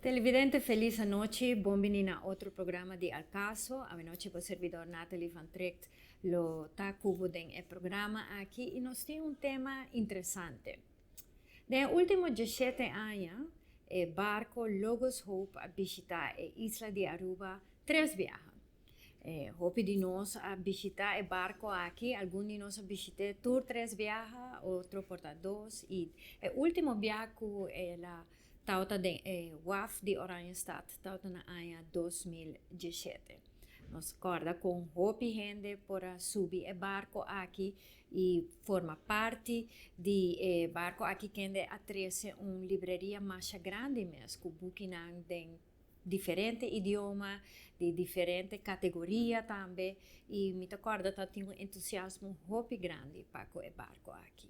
Televidente felis anochi, bon bini na otro programa di Al Paso. Awanochi bo servidor Nathalie van Treekt lo ta cu bo den e programa aki y nos tin un tema interesante. Den e ultimo diesshete aña e barco Logos Hope a bishita e isla di Aruba tres biaha. Hopi di nos a bishitá e barko aki, algun di nos a bishit'é tur tres biaha, otro por ta dos, i e último biaha ku el a tabatin den e waf di Oranjestad tabata na aña dos mil diesshete. Nos kòrda kon hopi hende por a subi e barko aki i forma parti di e barko aki kende a trese un libreria masha grandi mes ku bukinan den diferente idioma, di diferente kategoria tambe, i mi ta kòrda ta tin un entusiasmo hopi grandi pa ku e barko aki.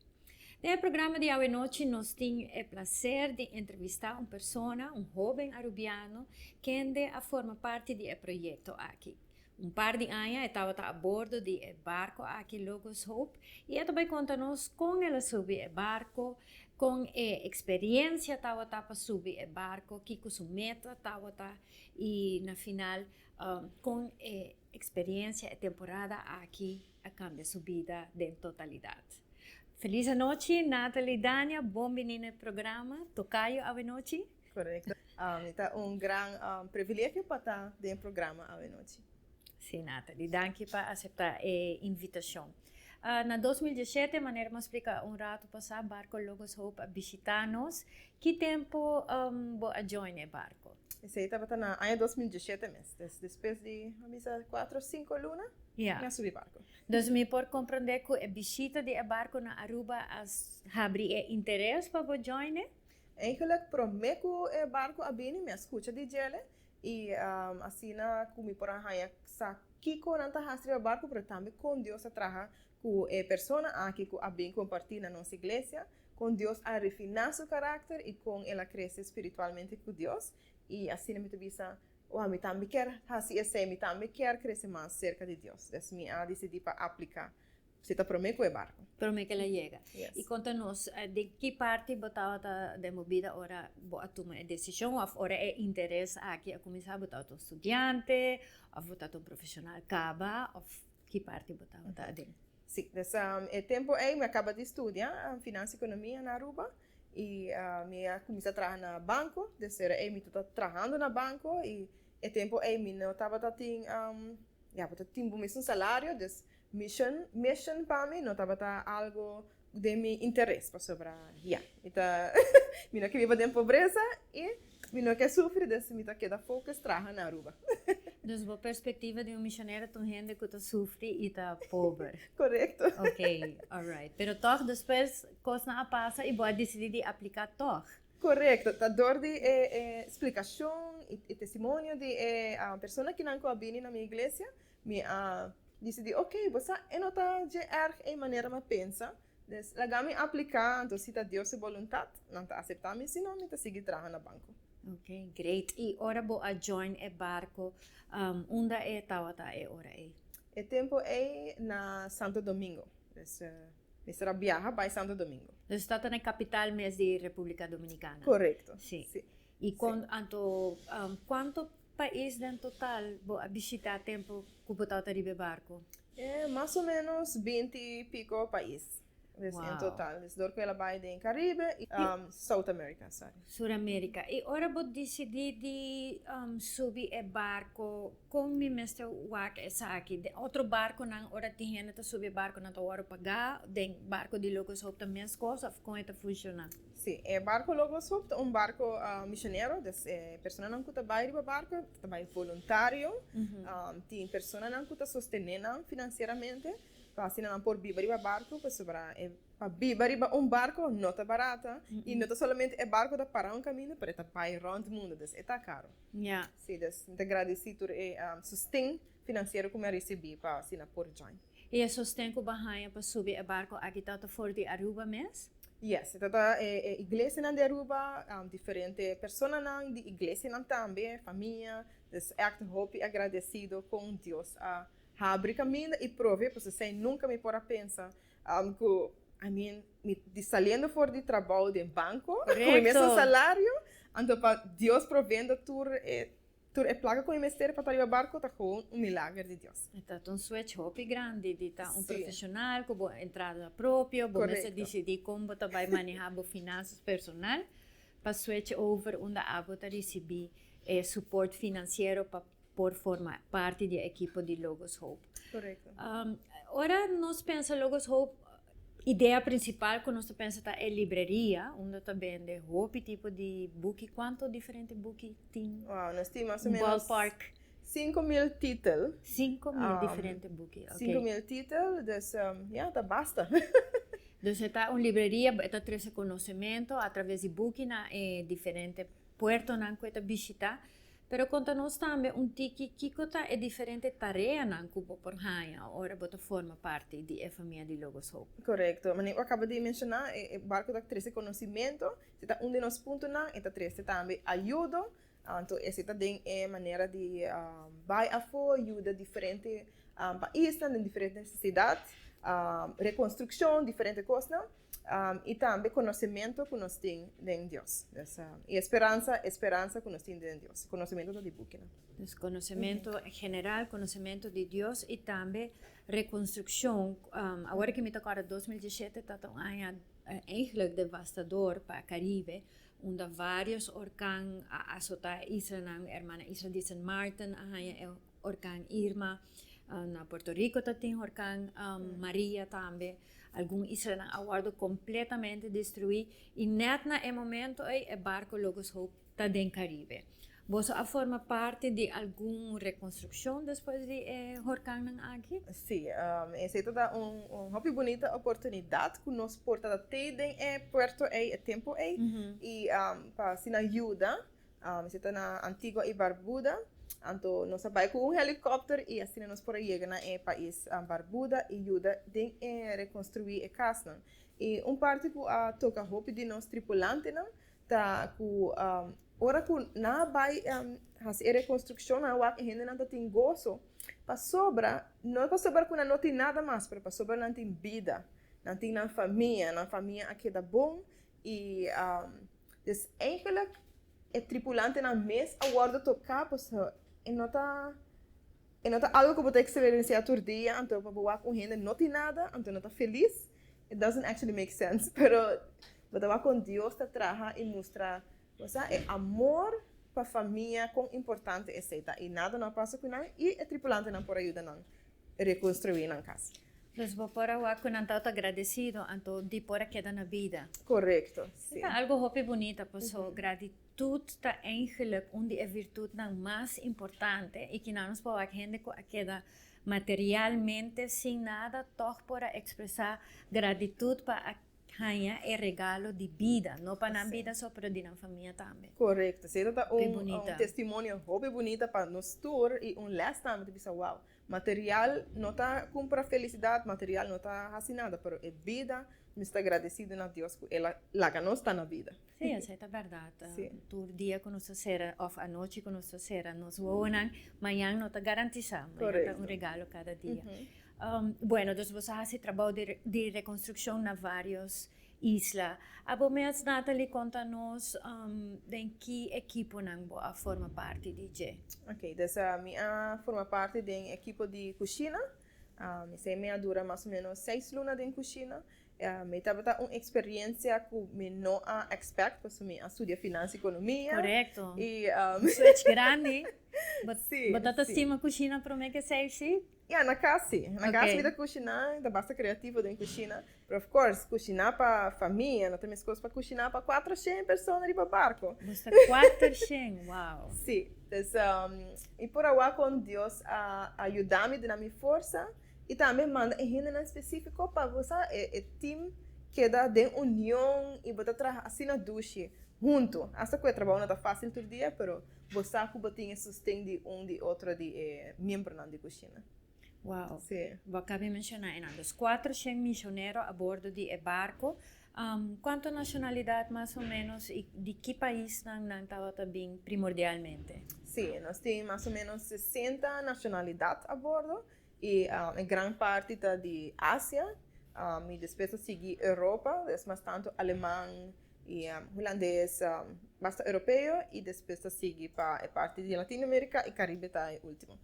Den e programa di awenochi nos tin e plaser di entrevistá un persona, un hóben arubiano, kende a forma parti di e proyekto aki. Un par di aña e tabata a bordo di e barco aki Logos Hope y e ta bay conta nos con el a subi e barco, con e experiencia tabata pa subi e barco, kico su meta tabata y na final con e experiencia e temporada aki a cambia su bida den totalidad. Feliz anochi Nathalie Dania bon bini na e programa Tocayo Avenochi. Correcto. Um, ta un gran um, privilegio pa ta den programa Avenochi. Sí, Natalie. Dankie pa acepta e invitacion. Uh, na 2017, manera mo explica un rato pasa, barco Logos Hope a visita nos. Ki tempo um, bo a join e barco? Ese tabata na año 2017 mes. Des, después de, a bisa, 4 o 5 luna, yeah. na subi barco. Dus mi por comprende cu e visita de e barco na Aruba as habri e interes pa bo join? Eigenlijk prome ku e barku a bini mi a skucha di Jelle i asina ku mi por a haña sa kiko nan ta hasi riba barku pero tambe kon Dios ta traha ku e persona aki ku a bin kompartí na nos iglesia, kon Dios a rifiná su karakter i kon el a krese spiritualmente ku Dios i asina mi ta bisa wou mi tambe kier hasi esei mi tambe kier krese mas serka di Dios, des mi a disidí pa apliká Si ta prome ku e barku. Prome kel a yega. I konta nos den ki parti bo tabata den bo bida ora bo a tuma e desishon òf ora e interes aki a kuminsá? Bo tabata un studiante òf bo tabata un profeshonal kaba òf ki parti bo tabata aden? Sí, des e tempu ei mi a kaba di studia Finansia i Ekonomia na Aruba i mi a kuminsá traha na banko. Des ora ei mi ta ta trahando na banko i e tempu ei mi no tabata tin ya bo ta tin bo mes un salario, des Mission, Mission pa mi no tabata algo den mi interes pasobra ya mi ta mi no ke biba den pobresa i mi no ke sufri dus mi ta keda focus traha na Aruba. Dus bo perspectiva di un misionero ta un hende ku ta sufri i ta pober. Correcto. Ok, alright. Pero tog despues kosnan a pasa i bo a disidi di aplica tog. Correcto, ta dor di e e splicacion i e testimonio di e persona kinan ku a bini na mi iglesia Mi a disidí, ok, bo sa e no ta dje èrg ei manera mi a pensa, des laga mi apliká, anto si ta Dios su boluntat, nan ta aseptá mi, si no mi ta sigui traha na banko. Ok, great. I ora bo a join e barko, unda e tawata e ora ei? E tempu ei na Santo Domingo, des mester a biaha bai Santo Domingo. Dus tata na e kapital mes di Republika Dominikana? Korekto, si. I kon, anto, kuanto. pais den total bo a bishitá tempu ku bo tabata riba e barku? E mas o menos binti i piko pais des en total. Des dor ku el a bai den Karibe i South America, sorry. Sur Amerika. I ora bo disidí di subi e barku, kon mi mester wak esaki? Den otro barkunan ora tin hende ta subi e barku nan ta wòrdu pagá? Den barku di Locos Hope ta meskos òf kon e ta funshoná? Sí, e barco Logos Hope ta un barco misionero, des e personanan cu ta bay riba barco ta bay voluntario, tin personanan cu ta sostene nan financieramente pa asina nan por biba riba barco, pasobra e pa biba riba un barco no ta barata y no ta solamente e barco ta para un caminda pero e ta bay rond mundo, des e ta caro. Ya. Sí, des mi ta gradici tur e sosten financiero cu mi a ricibi pa asina por join. Y e sosten cu bo haya pa subi e barco aki ta ta for di Aruba mes? Yes, e ta ta e e iglesianan di Aruba, diferente personanan di iglesianan tambe, famia, dus ègt hopi agradecido con Dios a habri caminda y prove pues esey nunca mi por a pensa cu I mean mi di saliendo for di trabao den banco cu mi mes un salario anto pa Dios provendo tur e Tur e plaga cu e mester pa ta riba barco ta gewoon un milager di Dios. E ta un swech hopi grandi di ta un profesional cu bo entrada propio, bo mester dicidi con bo ta bay maneha bo finanzas personal pa swech over unda abo ta ricibi e support financiero pa por forma parti di e ekipo di Logos Hope. Ora nos pensa Logos Hope. Idea principal cu nos ta pensa ta e libreria unda ta bende hopi tipo di buki. Cuanto diferente buki tin? Wow, nos tin mas o menos. Ballpark. Cinco mil titel. Cinco mil um, diferente buki. Okay. Cinco mil titel, dus um, ja, ta basta. dus e ta un libreria, e ta trece conocemento a traves di buki na e diferente puertonan cu e ta bishita. Pero konta nos tambe un tiki kiko ta e diferente tareanan ku bo por haña ora bo ta forma parti di e famia di Logos Hope. Korekto. Manera ku a kaba di menshoná, e barko ta trese konosimentu, si ta un di nos puntonan, e ta trese tambe ayudo. Anto esei ta den e manera di bai afó yuda diferente paisnan den diferente nesesidat, rekonstrukshon, diferente kosnan. um, y tambe conocimiento cu nos tin den Dios. Des, um, y esperanza, esperanza cu nos tin den Dios. Conocimiento ta di bukina. Dus conocimiento mm -hmm. general, conocimiento di Dios y tambe reconstrucción. Um, ahora que me te acorda, 2017 ta un año uh, eigenlijk devastador para Caribe. Unda varios orkan a azota isla, hermana isla di Sint Maarten, a Horkan Irma, na Puerto Rico ta tin Horkan Maria tambe, algun islanan a wòrdu kompletamente destruí i nèt na e momentu ei e barku Logos Hope ta den Karibe. Boso a forma parti di algun rekonstrukshon despues di e horkannan aki? Sí, esei ta da un hopi bunita oportunidat ku nos por ta te den e puerto ei e tempu ei i pa asina yuda Si ta na Antigua i Barbuda, anto nos a bai ku un helikòpter i asina nos por a yega na e pais Barbuda i yuda den e rekonstruí e kasnan. I un parti ku a toka hopi di nos tripulantenan ta ku ora ku nan a bai hasi e rekonstrukshon nan a wak e hendenan ta tin goso pasobra no pasobra ku nan no tin nada mas pero pasobra nan tin bida nan tin nan famia nan famia a keda bon I dus eigenlik e tripulantenan mes a wòrdu toká, pasobra e no ta e no ta algu ku bo ta eksperensiá tur dia, anto pa bo wak un hende no tin nada, anto no ta felis, it doesn't actually make sense, pero bo ta wak kon Dios ta traha i mustra. Bo sa e amor pa famia kon importante esei ta i nada no a pasa ku nan i e tripulantenan por a yuda nan rekonstruí nan kas. Pues bo por a wak ku nan tawata gradesido anto di por a keda na bida. Korekto, si. E ta algu hopi bunita paso gratitut ta eingelik un di e virtutnan mas importante i kina nos por wak hende ku a keda materialmente sin nada tog por a ekspresá gratitut pa Haña e regalo di bida, no pa nan bida so, pero di nan famia tambe. Korekto. Seta ta un un testimonio hopi bunita pa nos tur i un lès tambe ta bisa, wow, material no ta kumpra felisidat, material no ta hasi nada, pero e bida, nos ta gradesido na Dios ku el a laga nos ta na bida. Sí, esei ta bèrdat. Sí. Tur dia ku nos ta sera, òf anochi ku nos ta sera nos wowonan, mañan no ta garantisá. Korèkto. Mañan ta un regalo kada dia. Bueno, dus boso a hasi trabou di, di rekonstrukshon na vários isla. A bo mes Nathalie konta nos den ki ekiponan bo a forma parti di dje? Oké, dus mi a forma parti den ekipo di kushina. Esei mi a dura mas o ménos seis luna den kushina. Mi tabata un experiencia cu mi no a expect pasobra mi a studia Finanzas y Economia. Correcto. Y un switch grandi. Bo ta ta stima cushina prome que esey así? Ya, na cas si. Na cas mi ta cushina, mi ta basta creativo den cushina. Pero of course, cushina pa famia no ta mescos pa cushina pa cuatroshen persona riba barco. Boso ta cuatroshen, wow! Si. Entonces, mi por awor con Dios a yuda mi duna mi forsa. I tambe manda e hendenan spesífiko pa bo sa, e e tim keda den union i bo ta traha asina dushi, huntu. Hasta ku e trabou no ta fásil tur dia, pero bo sa ku bo tin e sosten di un di otro di e miembronan di kushina. Wou. Sí. Bo a kabe menshoná enan. Dus kuater shen mishonero a bordo di e barku. Kuantu nashonalidat mas o ménos i di ki paisnan nan tabata bin primordialmente? Sí. Nos tin mas o ménos sesenta nashonalidat a bordo. I e gran parti ta di Asia, i despues ta sigui Europa, es mas tantu Aleman i Hulandes, basta Europeo, i despues ta sigui pa e parti di Latino America i Caribe ta e ultimo.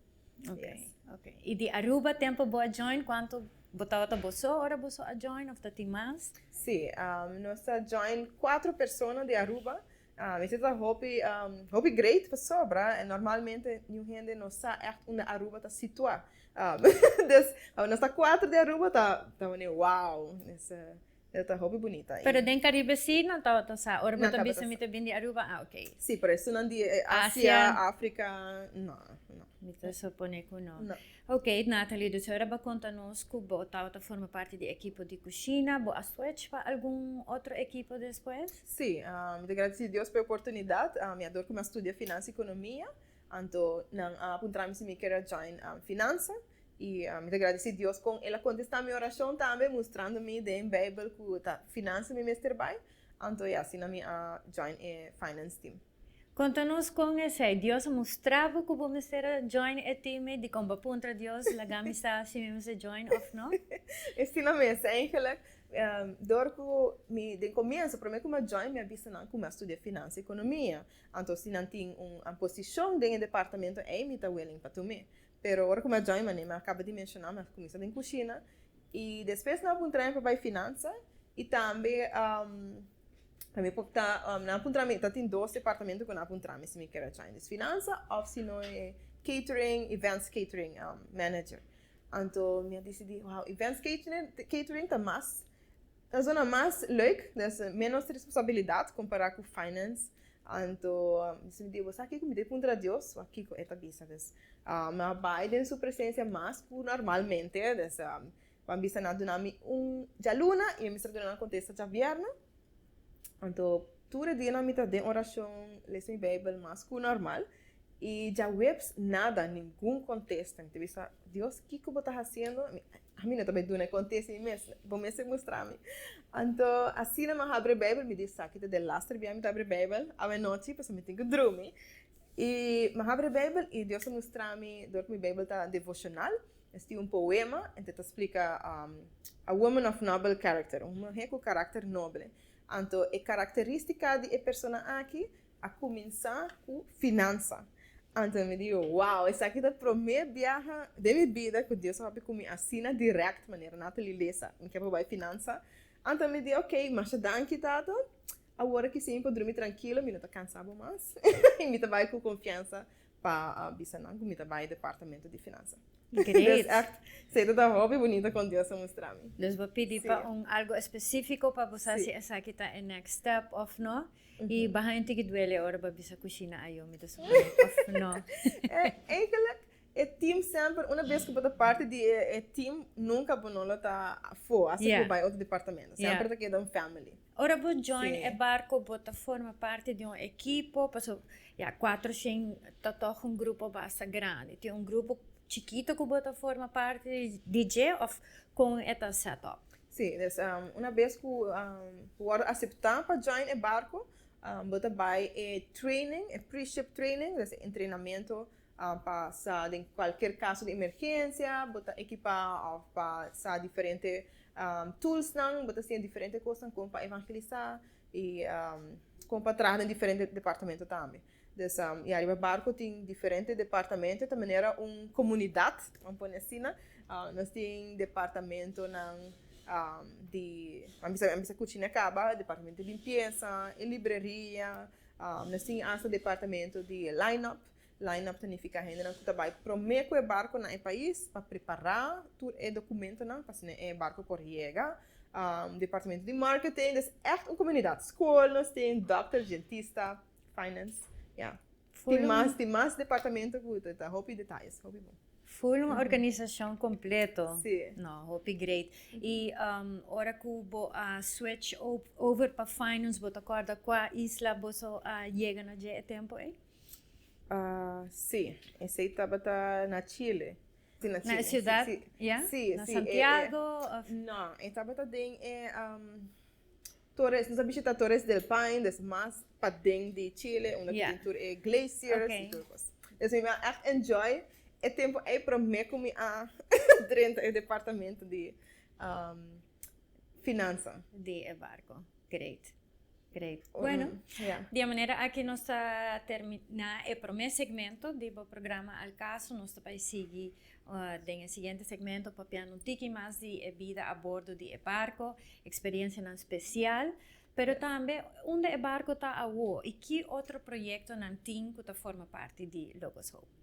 I di Aruba tempo bo a join cuanto bo tabata bo so ora bo so a join of ta tin mas? Si, nos a join cuatro persona di Aruba Mi ta ta hopi hopi great pasobra normalmente niun hende no sa ègt unda Aruba ta situá. Des ora nos ta kuater di Aruba ta ta wòrdu wow esa e ta hopi bunita. Pero den Karibe sí nan tabata sa. Ora bo ta bisa mi ta bini di Aruba ah ok. Sí, pero esun nan di Asia, Afrika no no. Mi ta suponé ku no. No. Ok, Nathalie, dus ora bo a konta nos ku bo tabata forma parti di ekipo di kushina. Bo a swèch pa algun otro ekipo despues? Sí, mi ta gradesí Dios pa e oportunidat. Mi a dor ku mi a studia finansa i ekonomia, anto nan a puntra mi si mi kere join finansa. I mi ta gradesí Dios kon el a kontestá mi orashon tambe, mustrando mi den Beibel ku ta finansa mi mester bai. Anto e asina mi a join e finance team. Conta nos con esey Dios a mustra bo cu bo mester a join e team ey dicon bo a puntra Dios laga mi sa si mi mester join of no. Esina mes eigenlijk door cu mi den comienso prome cu mi a join mi a bisa nan cu mi a studia finanza y economia anto si nan tin un posicion den e departamento ey mi ta willing pa tumi Pero ora cu mi a join mane, mi a caba di menciona, mi a cuminsa den cushina, y despues nan a puntra mi pa bay finanza, y tambe mi por ta, nan a puntra mi, ta tin dos departamento cu nan a puntra mi si mi kier a join, es finanza of si no e catering, events catering manager, anto mi a dicidi wow events catering ta mas Ta sona mas leuk, dus menos responsabilidad compara cu finance. Anto si mi di bo, sa kico? Mi ta puntra Dios wak kico e ta bisa. Dus mi a bay den su presencia mas cu normalmente. Dus bo a bisa nan duna mi un djaluna y mi a mester duna nan contesta djavierna. Anto tur e dianan mi ta den oracion, les mi bijbel mas cu normal. Y djaweps nada, ningun contesta. Mi ta bisa, Dios kico bo ta haciendo? Mi. Ami no ta bay duna e contesta mi mes, bo mes tin mustra mi. Anto asina mi a habri Bijbel, mi di esaki ta den laster bia mi ta habri Bijbel, awe nochi, pasobra mi tin cu drumi. Y mi a habri Bijbel y Dios a mustra mi dor cu mi Bijbel ta devocional, mi a stibi un poema ente ta splica A woman of noble character, un muhe cu caracter noble. Anto e caracteristica di e persona aki A cuminsa cu finansa. Anto mi dijo, wow, esaki ta prome biaha den mi bida cu Dios a papia cu mi asina direct manera Natalie Leza. Mi ke por bai finansa. Anto mi di, ok, masha danki tata. Awor aki si mi por drumi trankilo, mi no ta cansa bo mas. Mi ta bai cu confiansa pa a bisa nan ku mi ta bai departamento di finansa. Great. Sei ta ta hopi bunita kon Dios a mustra mi. Dus bo pidi pa un algu espesifiko pa bo sa si esaki ta e next step of no i bahaña tiki duele ora bo a bisa ku Shina a yomi ta sufri of no. Eigenlik e team semper una bes ku bo ta parti di e team nunka bo no lo ta fo hasta ku bo bai otro departamento semper ta keda un family. Ora bo join e barco bo ta forma parti di un ekipo paso ya cuatroshien ta toch un grupo basta grandi tin un grupo chikito cu bo ta forma parti di dje of con e ta set up? Si dus una bes cu bo worde acepta pa join e barco bo ta bay e training e preship training dus e entrenamento Pa sa den cualkier caso di emergencia bo ta ekipa of pa sa diferente toolsnan bo ta siña diferente cosnan con pa evangelisa y con pa traha den diferente departamento tambe dus y ariba barco tin diferente departamento ta manera un comunidad bo a pone asina nos tin departamentonan di a bisa a bisa cucina caba departamento di limpieza y libreria nos tin hasta departamento di line up Line-up ta nifiká hendenan ku ta bai promé ku e barku na e pais pa prepará tur e dokumentonan pa asina e barku por yega. Departamento di Marketing, des ègt un komunidat. Skol nos tin, dòkter, djentista, finance, ya. Tin mas, tin mas departamento ku ta hopi detayes, hopi bon. Ful un organisashon kompleto. Sí. No, hopi great. I ora ku bo a switch over pa finance, bo ta kòrda kua isla boso a yega na dje e tempu ei? si, esey tabata na chile. Na e siudat ya? Na santiago of? No, e tabata den e tores, nos a bishita tores del paine, des mas paden di chile, unda tin tur e glaciers i tur e kos. Des mi a ègt enjoy e tempu ei promé ku mi a drenta e departamento di. finansa di e barco great great bueno di e manera aki nos ta termina e prome segmento di bo programa al caso nos ta bai sigui den e siguiente segmento papiando un tiki mas di e bida a bordo di e barco experiencianan special pero tambe unda e barco ta awo y ki otro proyectonan tin cu ta forma parti di Logos Hope.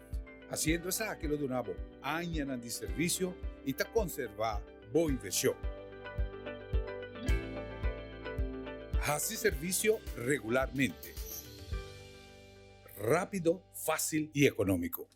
Hasiendo esaki lo duna bo añanan di servisio i ta konservá bo invershon. Hasi servisio regularmente. Rápido, fásil i ekonómiko.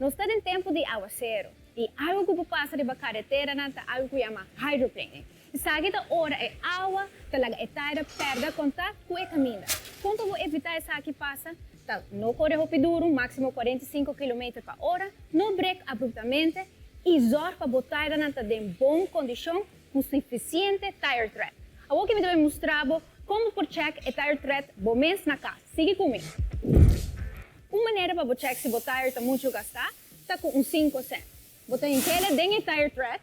Nos ta den tempu di aguasero i algu ku por pasa riba kareteranan ta algu ku yama hydroplaning. Esaki ta ora e awa ta laga e taira pèrdè kontakt ku e kaminda. Kon pa bo evitá esaki pasa, ta, No kore hopi duru, máksimo kuarenta i sinku kilometer pa ora, no brek abruptamente i zòrg pa bo tairanan ta den bon kondishon ku sufisiente tire tread. Awor ke mi ta bai mustra bo kon bo por chèk e tire tread bo mes na kas. Sigui ku mi. Un manera pa bo chèk si bo tair ta muchu gastá ta ku un sinku sènt. Bo ta hink'e den e tire tread.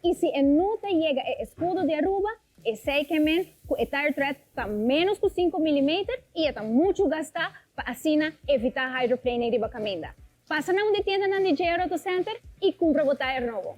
I si e no ta yega e eskudo di Aruba, esei ke men ku e tire threat ta ménos ku sinku milimeter i e ta muchu gastá pa asina evitá hydroplaning riba kaminda. Pasa na un di tiendanan di JR Auto Center i kumpra bo tire nobo.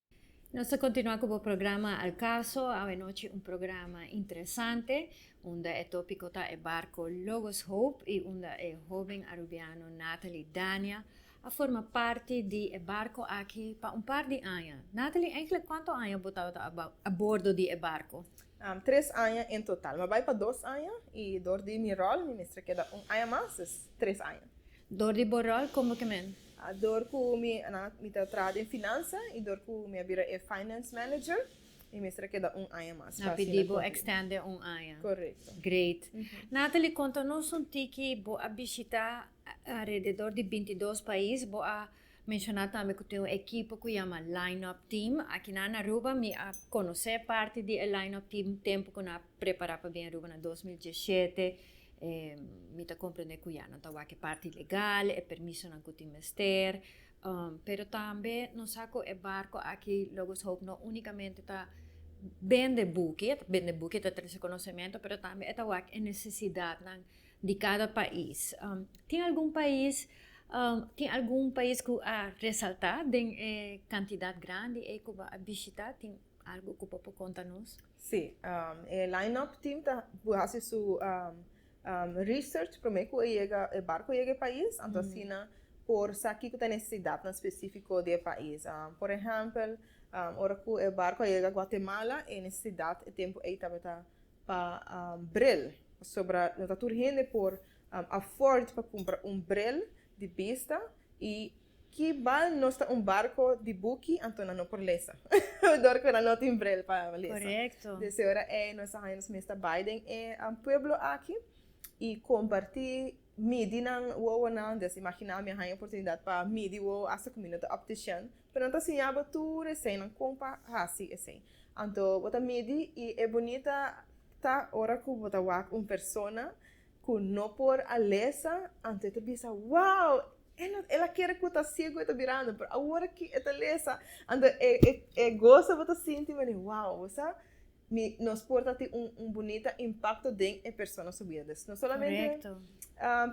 Nos ta continua cu bo programa Al Caso, awenochi un programa interesante unda e topico ta e barco Logos Hope y unda e hoben Arubiano Nathalie Dania a forma parti di e barco aki pa un par di aña. Nathalie, eigenlijk cuanto aña bo tabata a bordo di e barco? Tres aña en total. Mi a bai pa dos aña y dor di mi rol mi mester keda un aña mas, es tres aña. Dor di bo rol como ke men? Dor cu mi na mi ta traha den finansa y dor cu mi a bira e finance manager mi mester a keda un aña mas. Na pidi bo extende un aña. Correcto. Great. Nathalie, conta nos un tiki, bo a bishita alrededor di binti dos pais, bo a Mencioná tambe cu tin un ekipo cu yama Line-Up Team. Aki nan na Aruba mi a conoce parti di e Line-Up Team tempo cu nan a prepará pa bini Aruba na dos mil diesshete. Mi ta comprende cu ya, nan ta wak e parti legal, e permisonan cu tin mester. Pero tambe nos sa cu e barco aki, Logos Hope, no unicamente ta bende buki, e ta bende buki, e ta trece conocemento, pero tambe e ta wak e necesidadnan di cada pais. Tin algun pais tin algun pais cu a resalta den e cantidad grandi ey cu bo a bishita? Tin algo cu bo por conta nos? Sí, e line-up team ta por haci su research prome cu e yega e barco yega e pais, anto asina por sa kico ta e necesidadnan specifico di e pais. Por ehempel, ora cu e barco a yega Guatemala e necesidad e tempo ey tabata pa bril pasobra no ta tur hende por afford pa cumpra un bril di bista y ki bal nos ta un barco di buki anto nan no por lesa dor cu nan no tin bril pa lesa dese ora ey nos a haya nos mes ta bay den e pueblo aki y comparti. midi nan wowonan, dessa imaginá mi a haña oportunidat pa midi wowo asta ku mi no ta òptishan, pero nan ta siñá bo tur eseinan kon pa hasi esei. Anto bo ta midi i e bunita ta ora ku bo ta wak un persona ku no por a lesa, anto e ta bisa, Wow! E no el a kere ku ta siegu e ta birando, pero awor aki e ta lesa! Anto e e goso bo ta sinti, manera, wow, bo sa. Mi nos por ta tin un un bunita impakto den e persona su bida. Des no solamente Korekto.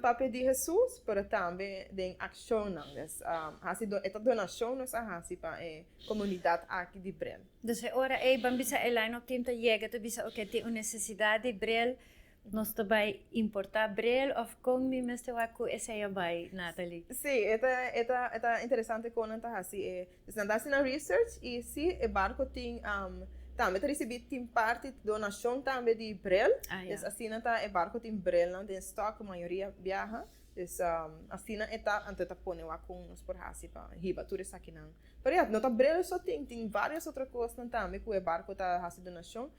papia di Hesus, pero tambe den akshonnan. Des hasi do e ta donashon nos a hasi pa e komunidat aki di Brel. Dus e ora ei ban bisa Eli no tin ta yega ta bisa oke tin un nesesidat di Brel Nos ta bai importa bril of con mi mester wak cu esey a bai Nathalie? Sí, e ta e ta e ta interesante con nan ta haci e, dus nan ta haci nan research y sí e barco tin am tambe ta ricibi tin parti donacion tambe di bril, Ah, ya. dus asina ta e barco tin bril nan den stock mayoria biaha, dus am asina e ta anto e ta pone wak con nos por haci pa hiba tur esakinan. Pero ya, no ta bril so tin, tin varios otro cosnan tambe cu e barco ta haci donacion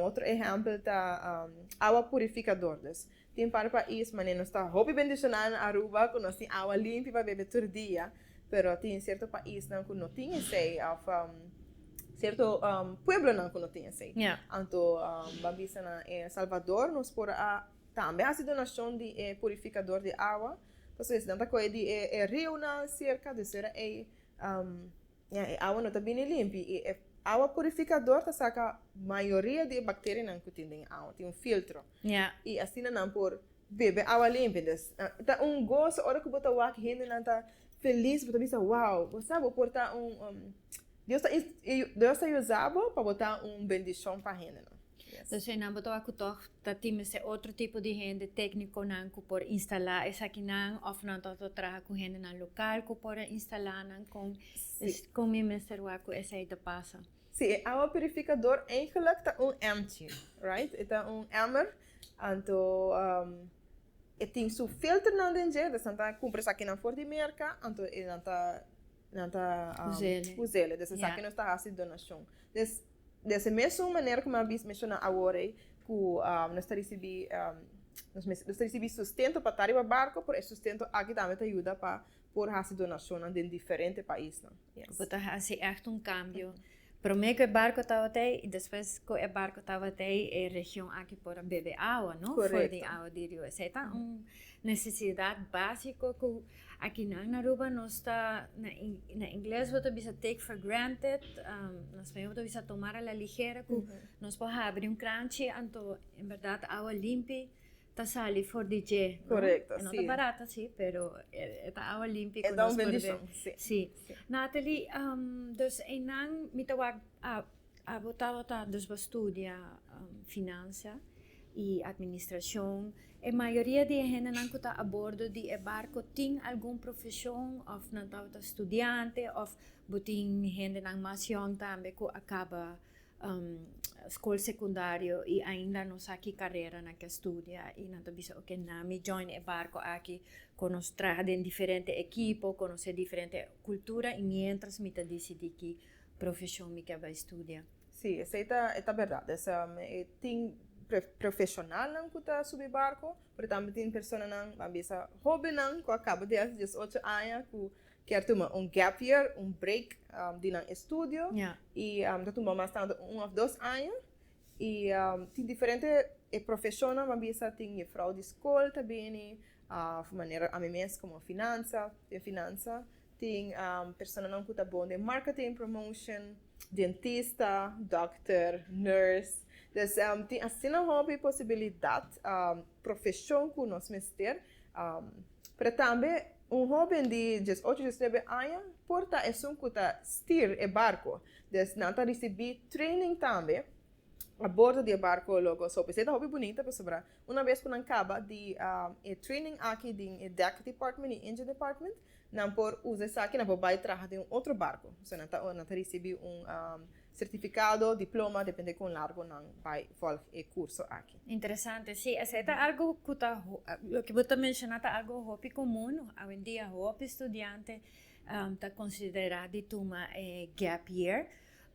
Otro ehèmpel ta awa purifikadordes. Tin par pais manera nos ta hopi bendisioná na Aruba ku nos tin awa limpi pa bebe tur dia, pero tin sierto paisnan ku no tin esei òf sierto pueblonan ku no tin esei. Anto bo a bisa na e Salvador nos por a tambe hasi donashon di e purifikador di awa, pasobra si nan ta kohe di e riunan serka, dusera ei. Ña e awa no ta bini limpi i e awa purifikador ta saka mayoria di e bakterianan ku tin den e awa, tin un filtro i asina nan por bebe awa limpi. Dus ta un goso ora ku bo ta wak hendenan ta felis, bo ta bisa wow, bo sa bo por ta un Dios ta Dios ta yusa bo pa bo ta un bendishon pa hendenan. Entonces e nan bo ta wak cu tog ta tin mester otro tipo di hende, tecniconan cu por instala esakinan of nan tog ta traha cu hendenan local cu por a instala nan? Con con mi mester wak cu esey ta pasa? Sí, e awa purificador eigenlijk ta un empty, right? E ta un emmer, anto e tin su filternan den dje, dus nan ta cumpra esakinan for di merca, anto e nan ta, nan ta, us'e, us'e, dus esaki nos ta haci donacion. Dus, Des mesun manera ku mi a menshoná awor ei, ku nos ta risibí nos ta risibí sustento pa ta riba barko, pero e sustento aki tambe ta yuda pa por hasi donashonnan den diferente paisnan. Bo ta hasi ègt un kambio, promé ku e barko tabata ei i despues ku e barko tabata ei e region aki por a bebe awa, no? Korekto. For di awa di riba. Esei ta un nesesidat básiko ku. Aki nan na Aruba nos ta na ingles bo ta bisa take for granted na spañol bo ta bisa tomar a la ligera ku nos por habri un kranchi anto en berdad awa limpi ta sali for di dje no e no ta barat asi pero e ta awa limpi ku nos por si Nathalie dus einan mi ta wak Abo tabata dus bo studia Finansia i Administrashon. E mayoria di e hendenan ku ta abordo di e barko tin algun profeshon òf nan tabata studiante òf bo tin hendenan mas yòn tambe ku a kaba skol sekundario i ainda no sa ki karera nan ke studia i nan ta bisa oke nan mi join e barko aki ku nos traha den diferente ekipo, konosé diferente kultura i miéntras mi ta disidí ki. profeshon mi ke bai studia. Sí, esei ta e ta berdad. Esa e tin profeshonalnan ku ta subi barko, pero tambe tin personanan, a bisa hobennan ku a kaba di hasi diesocho aña ku kier tuma un gap year, un break di nan estudio i ta tuma mas tantu un òf dos aña. I tin diferente e profeshonnan a bisa tin yefrou di skol ta bini, manera ami mes komo finansa, den finansa Tin personanan ku ta bon den marketing, promotion, dentista, dòkter, nurse. Des tin asina hòbi posibilidat profeshon ku nos mester. Pero tambe un hóben di diesocho a diesnuebe aña por ta esun ku ta stir e barko. Des nan ta risibí training tambe a bordo di e barko. Logo so p'esei ta hòbi bunita pasobra Una bes ku nan kaba di e training aki den e Deck Department i Engine Department, nan por usa esaki, nan por bai traha den un otro barko. So nan ta nan ta risibí un sertifikado, diploma, depende kon largo nan bai vòlg e kurso aki. Interesante, sí, esei ta algu ku ta loke bo ta menshoná ta algu hopi komun, awendia hopi studiante ta konsiderá di tuma e gap year,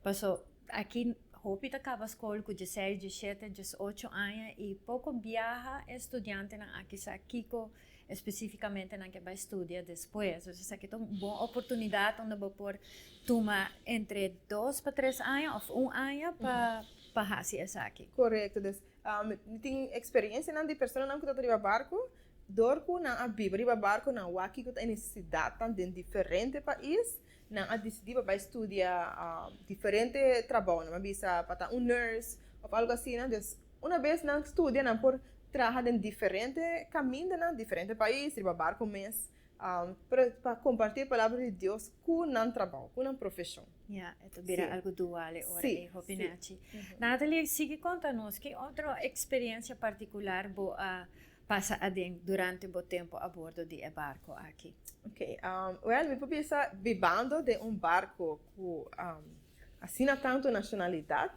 paso. Aki hopi ta kaba skol ku djeseis, djeshete, djesocho aña i poko biaha e studiantenan aki sa kiko espesífikamente nan ke bai studia despues. Pues esaki ta un bon oportunidat unda bo por tuma entre dos pa tres aña òf un aña pa hasi esaki. Korekto. Dus, mi tin eksperensianan di personanan ku tabata riba barku. Dor ku nan a biba riba barku, nan wak kiko ta e nesesidatnan den diferente pais. Nan a disidí pa bai studia diferente trabounan. Nan a bisa pa ta un nurse òf algu asina. Dus, una bes nan studia nan por traha den diferente kamindanan, diferente pais, riba barku mes, pero pa kompartí e palabra di Dios ku nan trabou, ku nan profeshon. Ya, e ta bira algu duale ora e hòpinen a ch'i. Natalie, sigui konta nos, ki otro eksperiensia partikular bo a pasa aden durante bo tempo a bordo di e barco aki? Ok, well mi por bisa bibando den un barco cu asina tanto nacionalidad,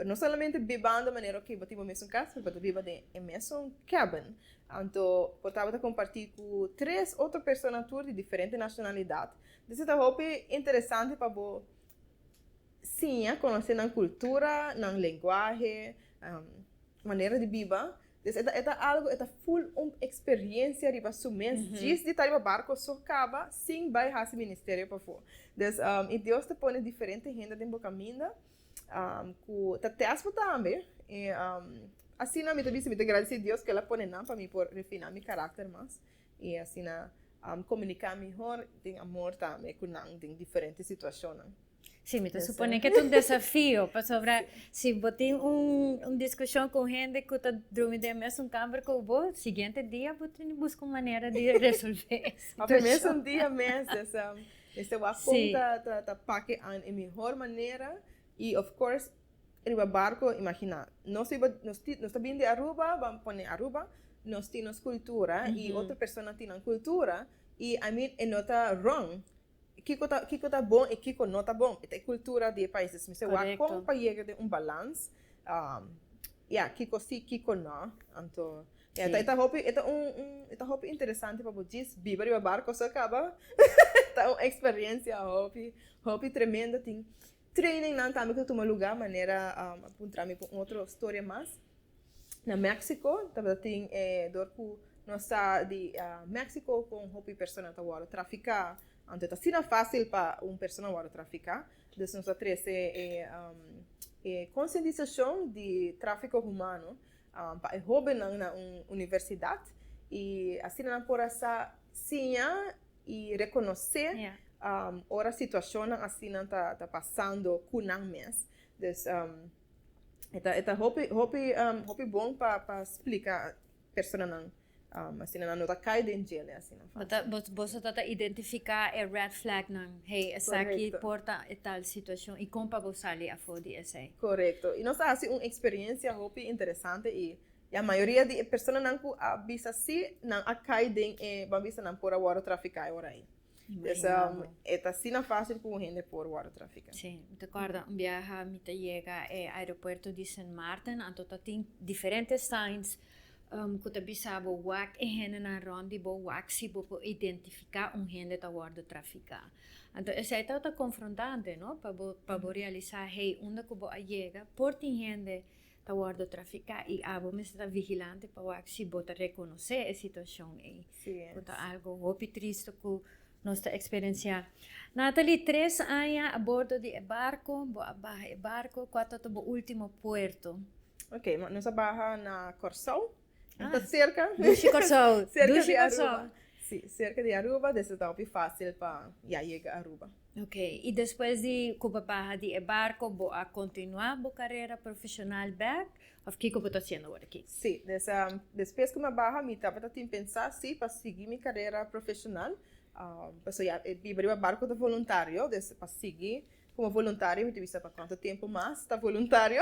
no solamente bibando manera ok bo tin bo mesun cas pero bo ta biba den e mesun cabin, anto bo tabata comparti cu tres otro persona tur di diferente nacionalidad, dus esta hopi interesante pa bo. siña, konosé nan kultura, nan lenguahe, manera di biba. Entonces e ta e ta algu e ta ful un eksperiensia riba su mes djis di ta riba barko so kaba sin bai hasi ministerio pafó. Entonces i Dios ta pone diferente hende den bo kaminda ku ta tèst bo tambe i asina mi ta bisa mi ta gradisé Dios ku el a pone nan pa mi por refina mi karakter mas. I asina komuniká mihor den amor tambe ku nan den diferente situashonnan. Sí, mi ta suponé ku e ta un desafio, pasobra si bo tin un diskushon ku un hende ku ta drumi den e mesun kamber ku bo, siguiente dia bo tin di buska un manera di resolvé e situashon. Òf e mesun dia mes, mester wak kon ta pake an e mihor manera i òf kors Riba barco, imagina, nos riba nos tin nos ta bini di Aruba, ban pone Aruba, nos tin nos cultura y otro persona tin nan cultura y I mean e no ta wrong, kico ta kico ta bon y kico no ta bon y ta e cultura di e pais dus mi se wak con pa yega den un balans ya kico si kico no, anto ya e ta hopi e ta un un e ta hopi interesante pa bo djis biba riba barco so caba ta un experiencia hopi hopi tremendo tin. Trainingnan tambe ta tuma lugá manera a puntra mi pa un otro storia mas. Na México tabata tin e dor ku nos sa di México ku un hopi persona ta wòrdu trafiká. Anto ta asina fásil pa un persona wòrdu trafiká. Entonces nos a trese e e konsientisashon di tráfiko humano pa e hóbennan na un universidat i asina nan por a sa siña i rekonosé ora situashonnan asinan ta pasando ku nan mes. Dus e ta hopi hopi hopi bon pa splika personanan asina nan no ta kai den djele asina fasil. Bo ta boso ta identifiká e red flagnan, hey esaki por ta e tal situashon i kon pa bo sali afó di esei. Korekto. I nos a hasi un eksperensia hopi interesante i La mayoria di e personanan ku a bisa sí, nan a kai den e, bo a bisa nan por a wòrdu trafiká e ora ei. Pues e ta asina fásil ku un hende por wòrdu trafiká. Sí, mi ta kòrda un biaha mi ta yega e aeropuerto di Sint Maarten, anto ta tin diferente signs ku ta bisa bo wak e hendenan rònt di bo, wak si bo por identifiká un hende ta wòrdu trafiká. Anto esei tabata ta konfrontante, no, pa bo pa bo realisá hey, unda ku bo a yega por tin hende ta wordo trafiká i abo mester ta vigilante pa wak si bo ta rekonosé e situashon ei ku ta algo hopi triste ku nos ta eksperensiá. Nathalie, tres aña a bordo di e barko, bo a baha e barko, kua tabata bo último puerto? Ok, nos a baha na Kòrsou. Ah, ta cerca. Dushi Corsou. cerca Dushi de Aruba. Corsou. Sí, cerca de Aruba, desde ta hopi fácil pa ya llega Aruba. Ok, y después di cu bo baha di e barco, bo a continua bo carrera profesional bek? Of kico bo ta haciendo awor aki? Sí, des, um, después cu mi a baha, mi tabata tin pensá, sí, pa sigui mi carrera profesional, um, pasobra ya e biba riba barco ta voluntario, des pa sigui Como voluntario mi ta bisa pa cuanto tempo mas ta voluntario.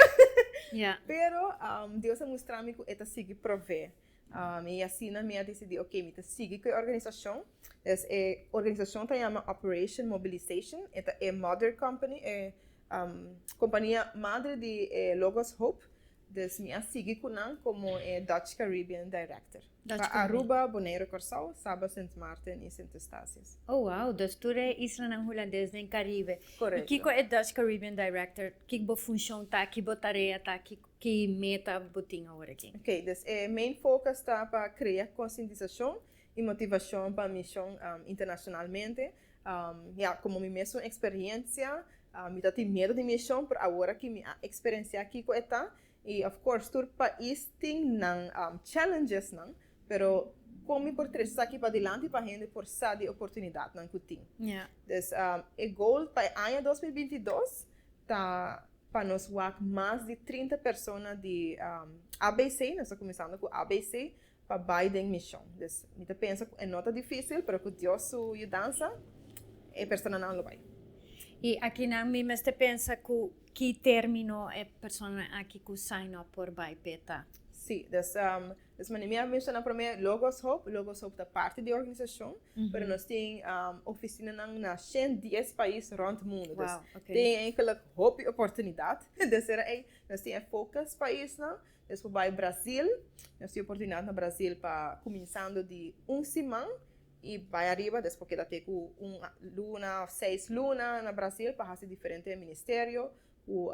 yeah. Pero um, Dios a mostrar mi cu e ta sigui prove. Um, y asina mi a decidi, ok, mi ta sigui cu e organizacion. Es e organizacion ta llama Operation Mobilization. E ta e mother company, e um, compania madre di e Logos Hope. Dus mi a sigui cu nan como e Dutch Caribbean Director. Pa Aruba, Bonaire, Corsao, Saba, Sint Maarten y Sint Eustatius. Oh wow, dus tur e islanan Hulandes den Caribe. Correcto. Y kico e Dutch Caribbean Director, kic bo funcion ta aki, bo tarea ta aki, ki meta bo tin awor aki? Ok, dus e main focus ta pa crea concientisacion y motivacion pa mision internacionalmente. Ya, komo mi mes un eksperensia, mi ta tin miedu di mishon, pero awor aki mi a eksperensiá kiko e ta. I òf kors, tur pais tin nan challengesnan, pero kon mi por trese esaki padilanti pa hende por sa di e oportunidatnan ku tin? Dus, e goal pa e aña dos mil binti dos ta pa nos wak mas di trinta persona di ABC, nos ta kuminsando ku ABC, pa bai den mision. Dus mi ta pensa ku e no ta difísil, pero ku Dios su yudansa e personanan lo bai. I akinan mi mester pensa ku ki término e personanan aki ku sign up por bai p'e ta. Sí, dus dus manera mi a menshoná promé, Logos Hope, Logos Hope ta parti di e organisashon, pero nos tin ofisinanan na shènt dies pais rònt mundu. Wow, oké. Dus tin einkèlik hopi oportunidat. Tercera ei, nos tin e focus paisnan, Nos por bai Brasil. Nos tin oportunidad na Brasil pa cuminsando di un siman y bai ariba, despues por keda te cu un luna of seis luna na Brasil pa haci diferente ministerio cu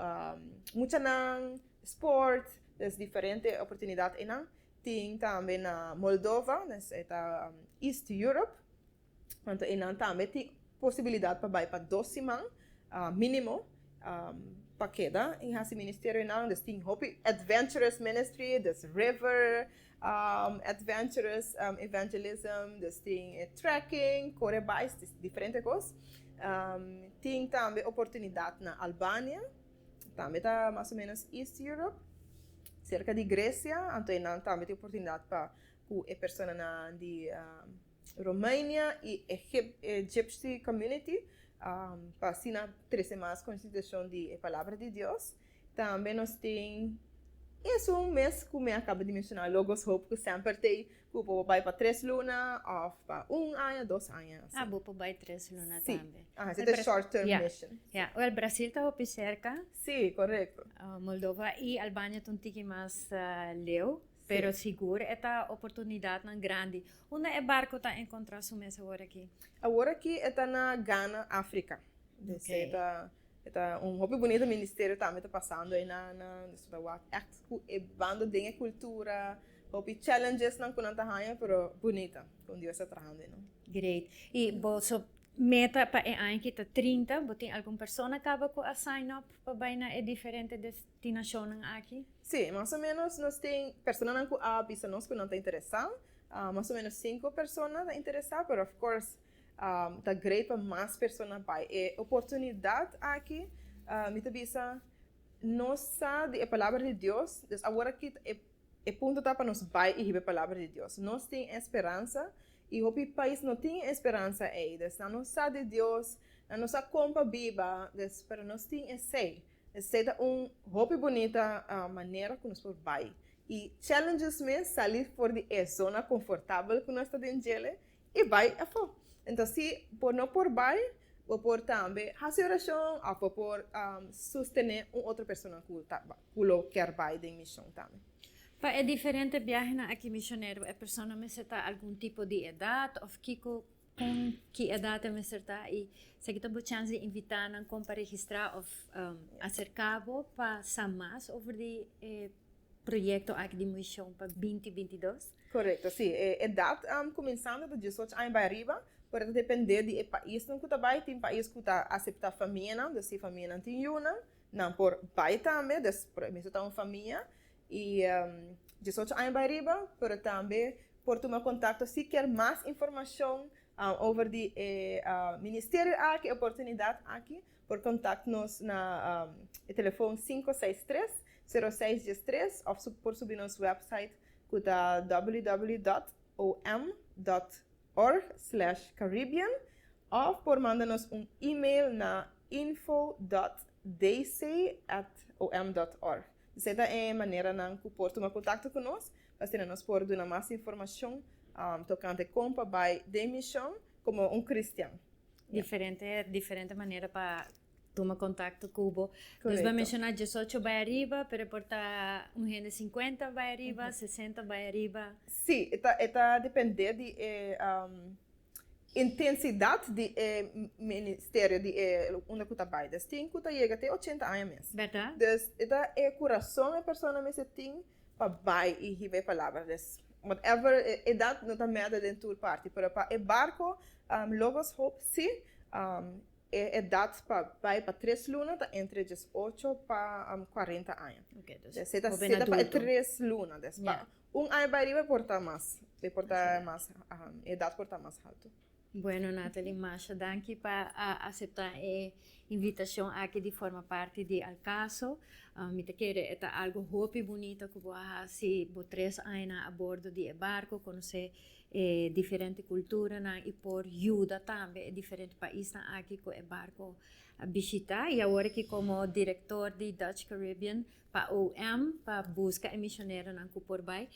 muchanan, sport, dus diferente oportunidad eynan. Tin tambe na Moldova, e ta East Europe. Anto enan tambe tin posibilidat pa bai pa dos siman minimo pa keda y hasi ministerio nan dus tin hopi adventurous ministry dus river adventurous evangelism dus tin e trekking kore bai diferente kos tin tambe oportunidat na Albania tambe ta mas o menos east Europe serka di Grecia anto enan tambe tin oportunidat pa cu e personanan di. Romania y Egypt's community pa asina trece mas consideracion di e palabra di Dios. Tambe nos tin esun mes cu mi a caba di menciona Logos Hope cu semper ta ey cu bo por bay pa tres luna of pa un aña dos aña asi. Ah bo por bay tres luna tambe. Si ahan seta short term mission. Ya wel Brasil ta hopi cerca. Si correcto. Moldova y Albania ta un tiki mas leu. Pero sigur e ta oportunidatnan grandi. Unda e barco ta encontra su mes aworaki? Aworaki e ta na Ghana, Africa. Esei ta e ta un hopi bunita ministerio tambe ta pasando ei na na nos ta wak echt cu e bando den e cultura, hopi challengesnan cu nan ta haya pero bunita con Dios ta trahando ei nan. Great. Y boso meta pa e aña aki ta trinta, bo tin algun persona caba cu a sign up pa bay na e diferente des. Tin nashonnan aki? Sí, mas o ménos nos tin personanan ku a bisa nos ku nan ta interesá. Mas o ménos sinku persona ta interesá, pero òf kors ta greit pa mas persona bai. E oportunidat aki mi ta bisa nos sa di e Palabra di Dios, dus awor aki ta e punto ta pa nos bai i hib'e Palabra di Dios. Nos tin e speransa i hopi pais no tin e speransa ei, dus nan no sa di Dios, nan no sa kon pa biba, dus pero nos tin esei. Esei ta un hopi bunita manera ku nos por bai i challenges mes, sali for di e zona konfortabel ku nos ta den djel'e i bai afó. Enton si bo no por bai, bo por tambe hasi orashon òf bo por sostené un otro persona ku ta ku lo kèr bai den mishon tambe. Pa e diferente biahenan aki misionero e persona mester ta algun tipo di edat òf kiko Con ki edad ta mester ta y si aki ta bo chance di invita nan con pa registra of acerca bo pa sa mas over di e proyecto aki di Muishon pa binti binti dos? Correcto, si. E edad cuminsando di diesocho aña bay ariba, pero ta depende di e paisnan cu ta bay. Tin pais cu ta acepta famianan, dus si famianan tin yunan, nan por bay tambe, dus por e mesun ta un famia. i diesocho aña bai riba, pero tambe por tuma kontakto si kier mas informashon over di e ministerio aki, e oportunidat aki, por kontakt nos na e telefon sinku seis tres, sero seis dies tres òf por subi nos wèpsait ku ta ww dòt om dòt org slèsh caribbean òf por manda nos un email na info dòt dc èt om dòt org. Esei ta e maneranan ku por tuma kontakto ku nos, asina nos por duna mas informashon tokante kon pa bai den mishon komo un kristian. Diferente diferente manera pa tuma kontakto ku bo. Nos ba menshoná diesocho bai ariba, pero e por ta un hende sinkuenta bai ariba, sesenta bai ariba. Sí, e ta e ta dependé di e. Intensidat di e ministerio di e unda ku ta bai des tin ku ta yega te ochenta aña mes. Dus e ta e kurason e persona mester tin pa bai i hiba e palabra des. Whatever e edat no ta mèda den tur parti, pero pa e barko Logos Hope si, e edat pa bai pa tres luna ta entre diesocho pa kuarenta aña. Des e ta seta pa e tres luna des pa Un aña bai riba por ta mas, e por ta mas, e edat por ta mas haltu. Bueno Nathalie, masha danki pa asepta e invitashon aki di forma parti di Al Caso. Mi ta kere e ta algu hopi bunita ku bo a hasi bo tres añanan a bordo di e barko, konosé e diferente kulturanan i por yuda tambe e diferente paisnan aki ku e barko a bishitá. I awor aki komo direktor di Dutch Caribbean Pa OM pa buska e misioneronan ku por bai.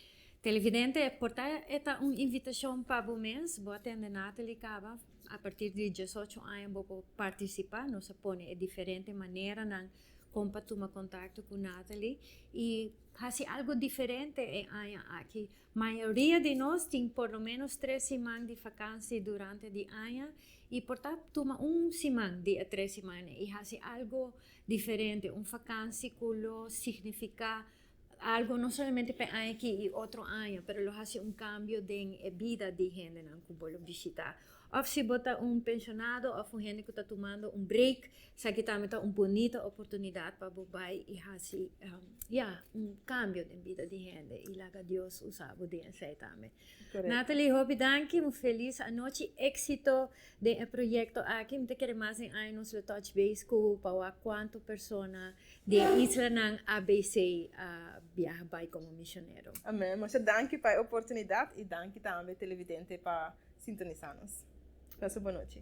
Televidente, por ta e ta un invitashon pa bo mes. Bo a tende Natalie kaba. A partir di diesocho aña bo por partisipá. Nos a pone e diferente maneranan kon pa tuma kontakto ku Natalie. I hasi algu diferente e aña aki. Mayoria di nos tin por lo ménos tres siman di fakansi durante di aña. I por ta tuma un siman di e tres siman ei i hasi algu. Diferente, un fakansi ku lo signifiká algu no solamente pa e aña aki i otro aña, pero lo hasi un kambio den e bida di hendenan ku bo lo bishitá. Òf si bo ta un penshonado òf un hende ku ta tumando un breik, esaki tambe ta un bonita oportunidat pa bo bai i hasi, ya, un kambio den bida di hende i laga Dios usa bo den esei tambe. Natalie, hopi danki, un felis anochi, éksito! Den e proyekto aki mi ta kere mas den aña nos lo touch base ku pawa kuantu persona di e islanan a BC a biaha bai komo mishonero. Amén. Masha danki pa e oportunidat i danki tambe televidente pa sintonisá nos. Pasa bo nochi.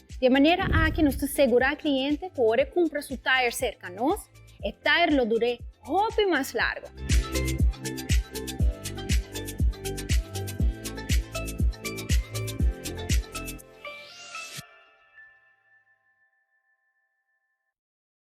Dje manera aki nos ta segurá kliente ku ora e kumpra su tayer serka nos, e tayer lo dur'é hopi mas largu.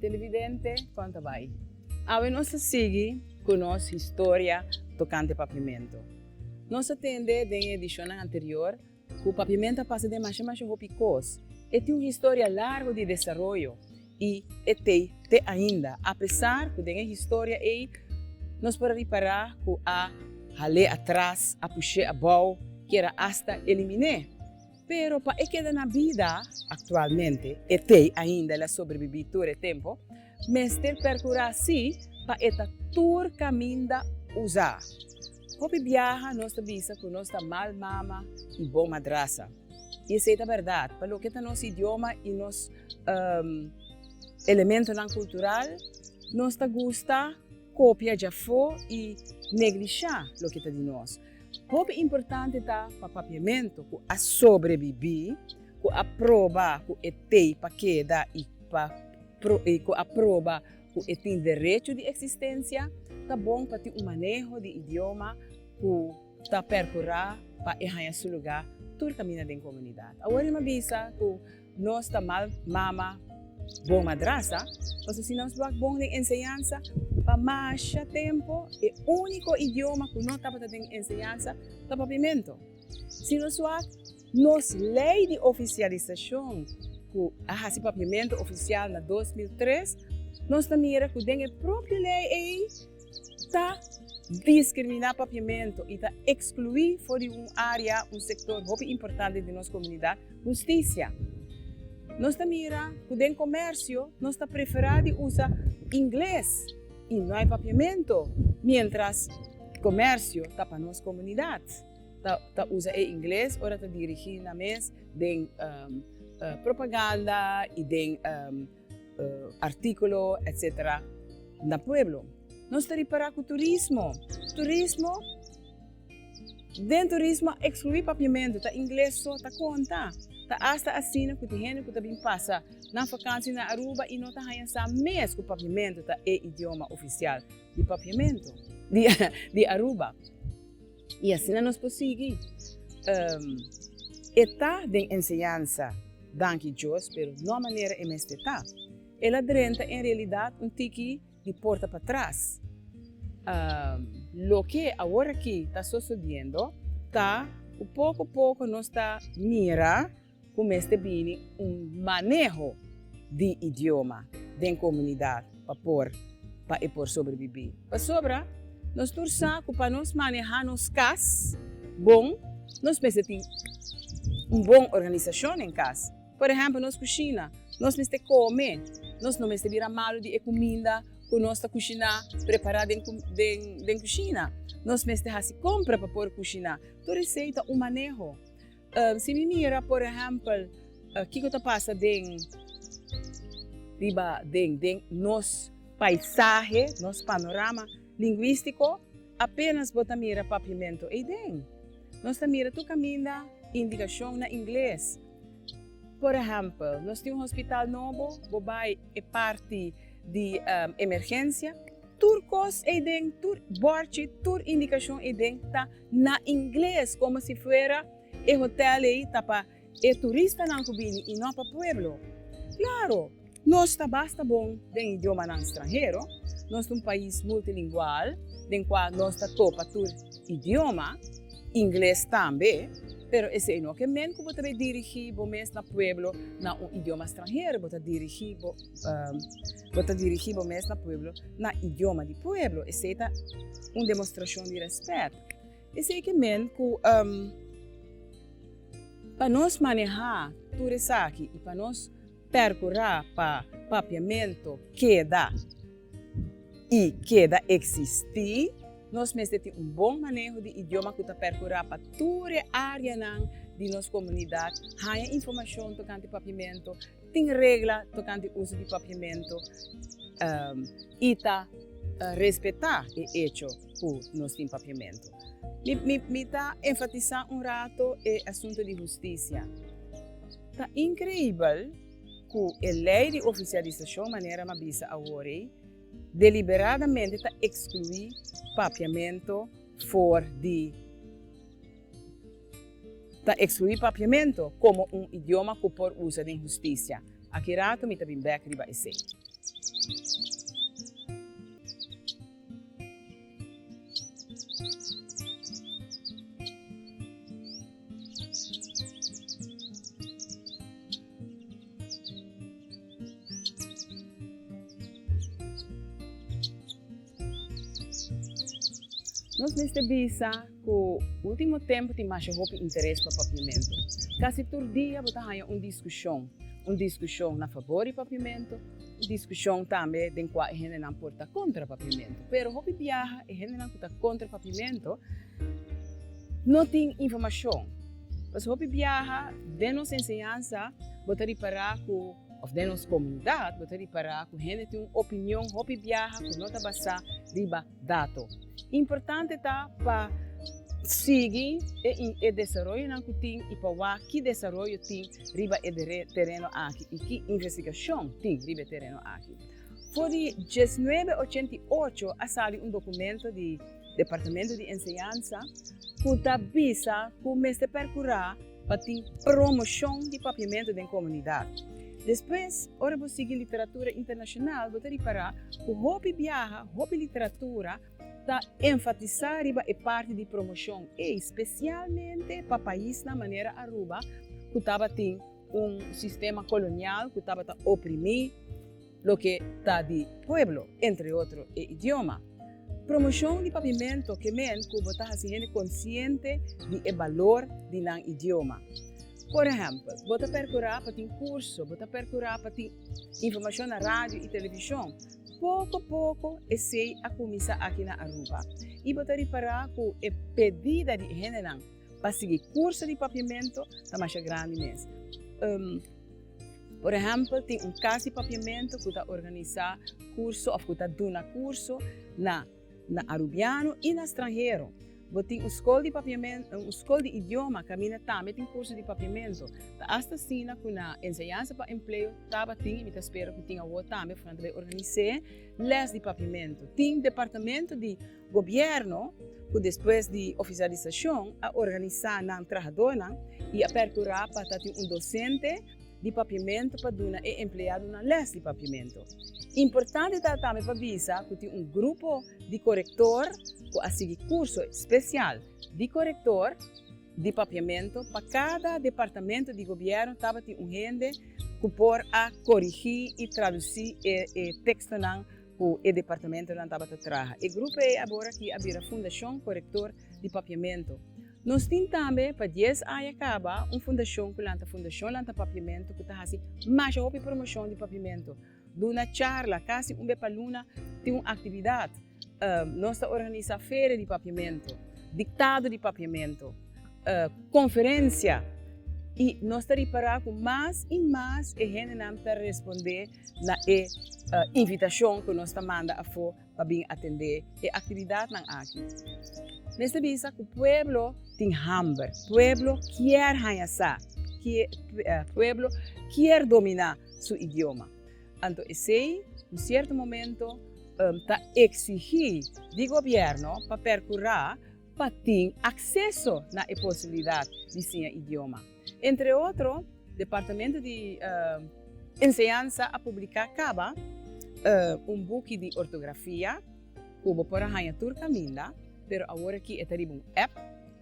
Televidente kon ta bai? Awe nos ta sigui ku nos historia tokante Papiamento. Nos a tende den e edishonnan anterior ku Papiamento a pasa den masha masha hopi kos. E tin un historia largo di desaroyo i e t'ei te ainda, apesar ku den e historia ei nos por a ripará ku a hal'é atras, a push'é abou, kier a asta eliminé. Pero pa e keda na bida aktualmente, e tei ainda el a sobrebibí tur e tempu, mester perkurá sí pa e ta tur kaminda uzá. Hopi biaha nos ta bisa ku nos ta mal mama i bon madrasa, i esei ta bèrdat pa loke ta nos idioma i nos elementonan kultural, nos ta gusta kopia djafó i neglishá loke ta di nos. Hopi importante ta pa papiamentu ku a sobrebibí, ku a proba ku e t'ei pa keda i ku a proba ku e tin derecho di eksistensia, ta bon pa tin un maneho di idioma ku ta perkurá pa e haña su lugá tur kaminda den komunidat. Aworinma bisa ku. Nos ta mal mama bon madrasa pasobra si nos wak bon den enseñansa, pa masha tempu e úniko idioma ku no tabata den enseñansa ta Papiamento. Si nos wak nos lei di ofisialisashon ku a hasi Papiamento ofisial na dos mil tres, nos ta mira ku den e propio lei ei, Ta diskriminá papiamentu i ta ekskluí for di un área un sektor hopi importante di nos komunidat, hustisia. Nos ta mira ku den komèrsio nos ta preferá di usa ingles i no hay papiamentu, miéntras komèrsio ta pa nos komunidat ta ta usa e ingles ora ta dirigí nan mes den propaganda i den artíkulo etcétera na pueblo. Nos ta ripará ku turismo, turismo, den turismo a eksluí papiamentu, ta ingles so ta konta. Ta asta asina ku tin hende ku ta bin pasa nan fakansi na Aruba i no ta haña sa mes ku papiamentu ta e idioma ofisial di papiamentu di Aruba. y asina nos por sigui e ta den enseñansa danki Dios pero no a manera e mester ta el a drenta en realidad un tiki di porta patras loke awor aki ta sosodiendo ta cu poco poco nos ta mira ku mester bini un maneho di idioma den komunidat pa por pa e por sobrebibí. Pasobra nos tur sa ku pa nos manehá nos kas bon nos mester tin un bon organisashon den kas. Por ehèmpel nos kushina, nos mester kome, nos no mester bira malu di e kuminda ku nos ta kushiná, prepará den den kushina. Nos mester hasi kompra pa por kushiná. Tur esei ta un maneho. Si mi mira por ehempel kiko ta pasa den riba den den nos paisahe, nos panorama linguístiko, apénas bo ta mira papiamentu ei den. Nos ta mira tur kaminda indikashon na ingles. Por ehempel, nos tin un hospital nobo, bo bai e parti di emergensia, tur kos ei den, tur bòrchi, tur indikashon ei den ta. Na ingles, como si fuera e hotel ei ta pa e turistanan cu bini y no pa pueblo. Claro, nos ta basta bon den idiomanan stranhero, nos ta un pais multilingual den cua nos ta topa tur idioma, ingles tambe, pero esey no ke men cu bo ta bay dirigi bo mes na pueblo na un idioma stranhero, bo ta dirigi bo. Bo ta dirigí bo mes na pueblo na idioma di pueblo. Esei ta un demostrashon di rèspèt. Esei ke men ku pa nos manehá tur esaki i pa nos perkurá pa papiamentu keda i keda eksistí, nos mester tin un bon maneho di idioma ku ta perkurá pa tur e áreanan di nos komunidat haña informashon tokante papiamentu, Tin regla tokante uso di papiamento i ta respetá e echo ku nos tin papiamento. Mi mi ta enfatisá un rato e asunto di hustisia. Ta inkreibel ku e lei di ofisialisashon manera mi a bisa awor ei deliberadamente ta ekskluí papiamento for di. Ta exclui Papiamento como un idioma cu por usa den husticia. Aki rato mi ta bin bek riba esey. Nos mester bisa. Ku último tempu tin masha hopi interes pa papiamentu. Kasi tur dia bo ta haña un diskushon. Un diskushon na fabor di papiamentu, un diskushon tambe den kua e hendenan por ta kontra papiamentu. Pero hopi biaha e hendenan ku ta kontra papiamentu no tin informashon. Pasobra hopi biaha den nos enseñansa bo ta ripará ku, òf den nos komunidat, bo ta ripará ku hende tin un opinion hopi biaha ku no ta basá riba Dato importante ta pa sigui e desaroyonan ku tin i pa wak ki desaroyo tin riba e tereno aki i ki investigashon tin riba e tereno aki. For di diesnuebe ochenta i ocho a sali un dokumento di Departamento di Enseñansa ku ta bisa ku mester perkurá, pa tin promoshon di papiamentu den komunidat. Despues, ora bo sigui literatura internashonal, bo ta ripará ku hopi biaha, hopi literatura ta enfatisá riba e parti di promoshon ei, spesialmente pa paisnan manera Aruba ku tabatin un sistema kolonial ku tabata oprimí, loke ta di pueblo, entre otro e idioma. Promoshon di papimentu ke men ku bo ta hasi hende konsiente di e balor di nan idioma. Por ehèmpel, bo ta perkurá pa tin kurso, bo ta perkurá pa tin informashon na radio i televishon. Poko poko esei a kuminsá aki na Aruba i bo ta ripará ku e pedida di e hendenan pa sigui kurso di papimentu ta masha grandi mes. Por ehèmpel, tin un kas di papiamentu ku ta organisá kurso òf ku ta duna kurso na na arubiano i na stranhero. Bo tin un skol di papiamentu, un skol di idioma kaminda tambe tin kurso di papiamentu. Ta asta asina ku na Enseñansa pa Empleo tabatin, i mi ta spera ku tin awor tambe, funan ta bai organis'é lès di papiamentu. Tin departamento di. Gobierno, cu despues di oficialisacion, a organisa nan trahadornan y a percura pa ta tin un docente di Papiamento pa duna e empleadonan les di Papiamento. Importante ta tambe pa bisa cu tin un grupo di corector cu a sigui curso special di corector di Papiamento. Pa cada departamento di Gobierno tabatin un hende cu por a corigi y traduci e textonan ku e departamentonan tabata traha. E grupo ei abora aki a bira Fundashon Korektor di Papiamentu. Nos tin tambe, pa dies aña kaba, un fundashon ku lanta fundashon lanta papiamentu ku ta hasi masha hopi promoshon di papiamentu, duna charla kasi un be pa luna, tin un aktividat, nos ta organisa feria di papiamentu, diktado di papiamentu, konferensia i nos ta ripara ku mas i mas e hendenan ta respondé. na e invitashon ku nos ta manda afó pa bin atendé e aktividatnan aki. Mester bisa ku pueblo tin hamber, pueblo kier haña sa, pueblo kier dominá su idioma. Anto esei un sierto momento ta eksigí di gobièrnu pa perkurá pa tin akseso na e posibilidat di siña idioma. Entre otro, Departamento di Enseñansa a publiká kaba un buki di ortografia ku bo por a haña tur kaminda, pero awor aki e ta riba un app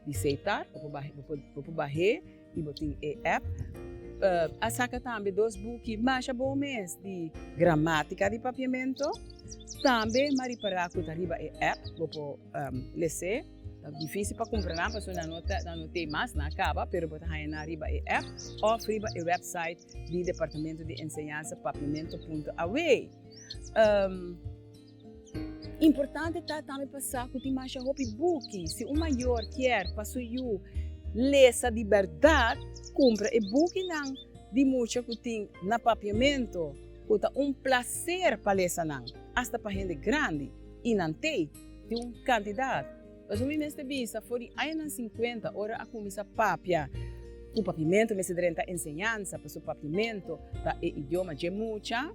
di seitar, bo por bah'é, bo por bah'é i bo tin e app. A saka tambe dos buki masha bon mes di gramátika di Papiamento, tambe maripará ku ta riba e app, bo por les'é. Ta difísil pa kumpra nan pasobra nan no ta nan no t'e mas nan a kaba pero bo ta haña nan riba e app òf riba e wèpsait di Departamento di Enseñansa Papiamento punto awe. Importante ta tambe pa sa ku tin masha hopi buki si un mayor kier pa su yu lesa di bèrdat kumpra e bukinan di mucha ku tin na Papiamento ku ta un plaser pa lesa nan asta pa hende grandi i nan t'e. Tin un kantidat pasobra mi mester bisa for di añanan sinkuenta ora a kuminsá papia ku Papiamento mester drenta enseñansa pasobra Papiamento ta e idioma dje mucha.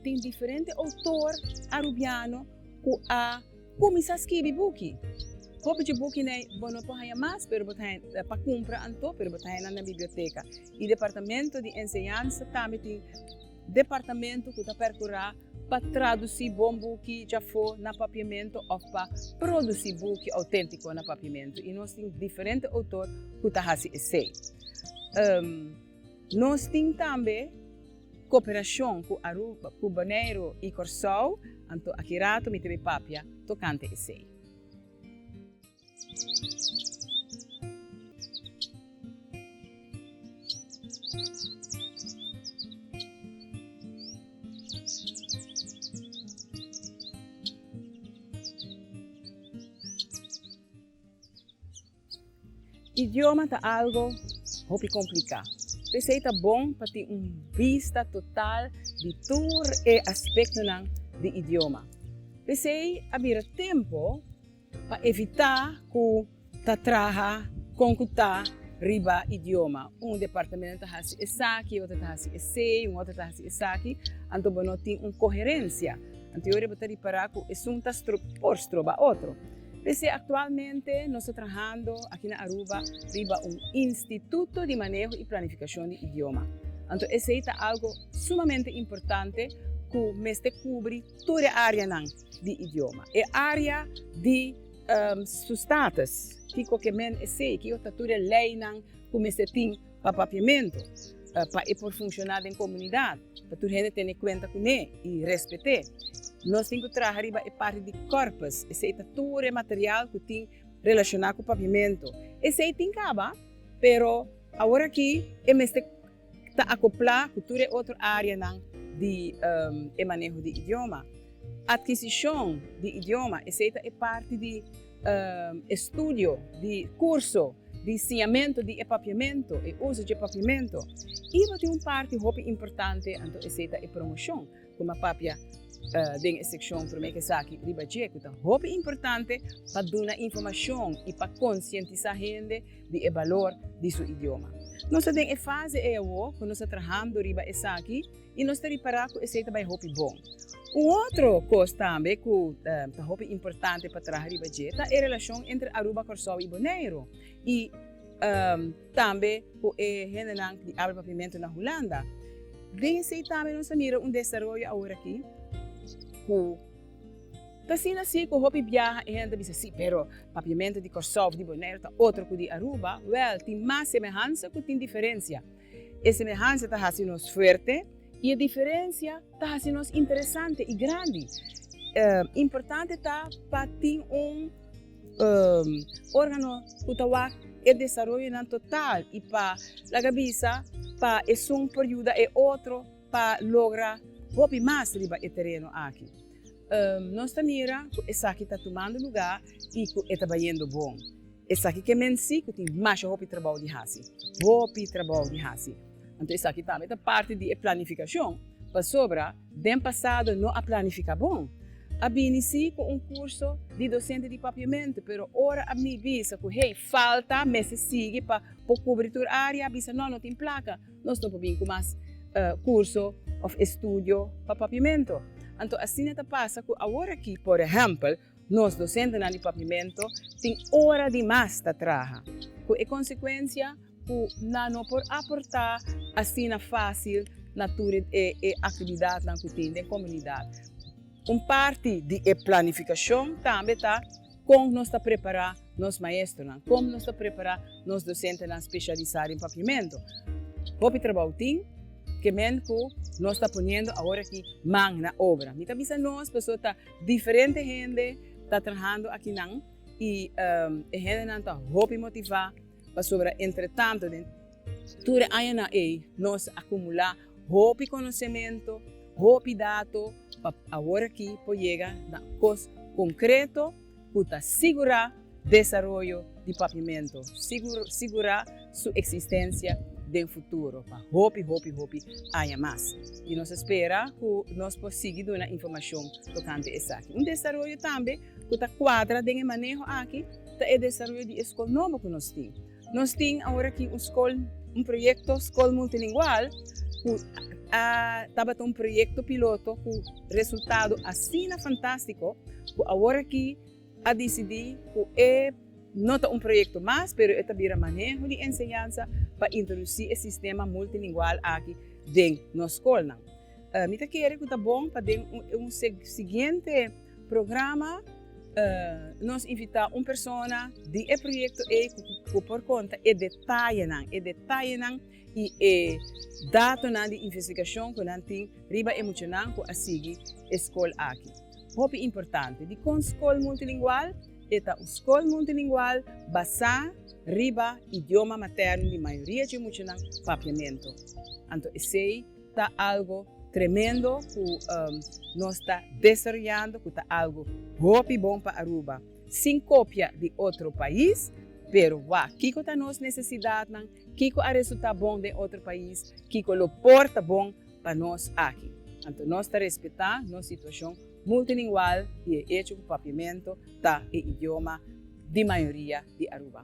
Tin diferente outor arubiano ku a kuminsá skibi buki. Hopi dje bukiney bo no por haña mas pero bo ta haña pa kumpra anto pero bo ta haña nan na biblioteka i Departamento di Enseñansa tambe tin. Departamento cu ta percura pa traduci bon buki djafó na Papiamento of pa produci buki autentico na Papiamento y nos tin diferente autor cu ta haci esey. Nos tin tambe cooperacion cu Aruba, cu Bonaire y Corsou, anto aki rato mi ta bay papia tocante esey. Idioma ta algo hopi kompliká. P'esei ta bon pa tin un bista total di tur e aspektonan di idioma. P'esei a bira tempu. Pa evitá ku ta traha kon ku ta riba idioma, un departamento ta hasi esaki, e otro ta hasi esei, un otro ta hasi esaki, anto bo no tin un koherensia. Anto yo riba ta ripará ku esun ta stro por stroba otro. P'esei aktualmente nos ta trahando aki na Aruba riba un instituto di maneho i planifikashon di idioma. Anto esei ta algo sumamente importante ku mester kubri tur e áreanan. di idioma. E área di su status, kiko ke men esei, kiko ta tur e leinan ku mester tin pa papiamentu pa e por funshoná den komunidat, pa tur hende tene kuenta kuné i rèspet'é. Nos tin ku traha riba e parti di kòrpus, esei ta tur e material ku tin relashoná ku papiamentu. Esei tin kaba, pero aworakí e mester. Ta akoplá ku tur e otro áreanan di e maneho di idioma. Adkisishon di idioma, esei ta e parti di e studio, di kurso, di siñamentu di e papiamentu, e uso dje papiamentu. Iba tin un parti hopi importante, anto esei ta e promoshon. Kome a papia den e sekshon Promé ku esaki riba dje ku ta hopi importante pa duna informashon i pa konsientisá hende di e balor di su idioma. Nos ta den e fase ei awó ku nos ta trahando riba esaki i nos ta ripará ku esei ta bai hopi bon. Un otro kos tambe ku ta hopi importante pa traha riba dje ta e relashon entre Aruba, Kòrsou i Boneiru. I. Tambe cu e hendenan di Abra Papiamento na Hulanda. Den esey tambe nos a mira un desaroyo aworaki cu ta asina asi cu hopi biaha e hende ta bisa, si, pero Papiamento di Corsou of di Boneiru ta otro cu di Aruba. Wel, tin mas semehansa cu tin diferencia. E semehansa ta haci nos fuerte y e diferencia ta haci nos interesante y grandi. Importante ta pa tin un. órgano ku ta wak e desaroyonan total i pa laga bisa pa esun por yuda e otro pa logra hopi mas riba e tereno aki. Nos ta mira ku esaki ta tumando lugá i ku e ta bayendo bon. Esaki ke mensí ku tin masha hopi trabou di hasi. Hopi trabou di hasi! Anto esaki tambe ta parti di e planifikashon, pasobra den pasado no a planifiká bon. A bini sí ku un kurso di dosente di papiamentu, pero ora APNI bisa ku hey falta mester sigui pa por kubri tur área, a bisa no, no tin plaka, nos no por bin ku mas kurso òf estudio pa papiamentu. Anto asina ta pasa ku aworakí, por ehèmpel, Nos dosentenan di Pavimento tin ora di mas ta traha, ku e konsekuensia ku nan no por aportá asina fásil na tur e aktividatnan ku tin den komunidat. Un parti di e planifikashon tambe ta kon nos ta prepará nos maestronan, kon nos ta prepará nos dosentenan speshalisá den Pavimento. Hopi trabou tin ke men ku nos ta poniendo awor aki man na obra. Mi ta bisa nos pasobra ta. Diferente hende ta trahando akinan i e hendenan ta hopi motivá pasobra entretantu den tur e añanan ei nos a kumulá hopi konosementu, hopi dato pa awor aki por yega na kos konkreto ku ta sigurá desaroyo di Papiamento, sigurá su eksistensia den futuro pa hopi hopi hopi aña mas. I nos spera ku nos por sigui duna informashon tokante esaki. Un desaroyo tambe ku ta kuadra den e maneho aki ta e desaroyo di e skol nobo ku nos tin. Nos tin awor aki un skol, un proyekto skol multilingual ku a tabata un proyekto piloto ku resultado asina fantastiko ku awor aki a disidí ku e no ta un proyekto mas pero e ta bira maneho di enseñansa pa introdusí e sistema multilingual aki den nos skolnan. Mi ta kere ku ta bon pa den un siguiente. Programa Nos invitá un persona di e proyekto ei ku por konta e detayenan, e detayenan i e datonan di investigashon ku nan tin riba e muchanan ku a sigui e skol aki. Hopi importante, dikon skol multilingual? E ta un skol multilingual basá riba idioma matèrno di mayoria dje muchanan, papiamentu. Anto esei. Ta algo tremendo cu nos ta desaroyando cu ta algo hopi bon pa Aruba, sin copia di otro pais, pero wak kico ta nos necesidadnan, kico a resulta bon den otro pais, kico lo por ta bon pa nos aki. Anto nos ta respeta nos situacion multilingual y e hecho cu Papiamento ta e idioma di mayoria di Aruba.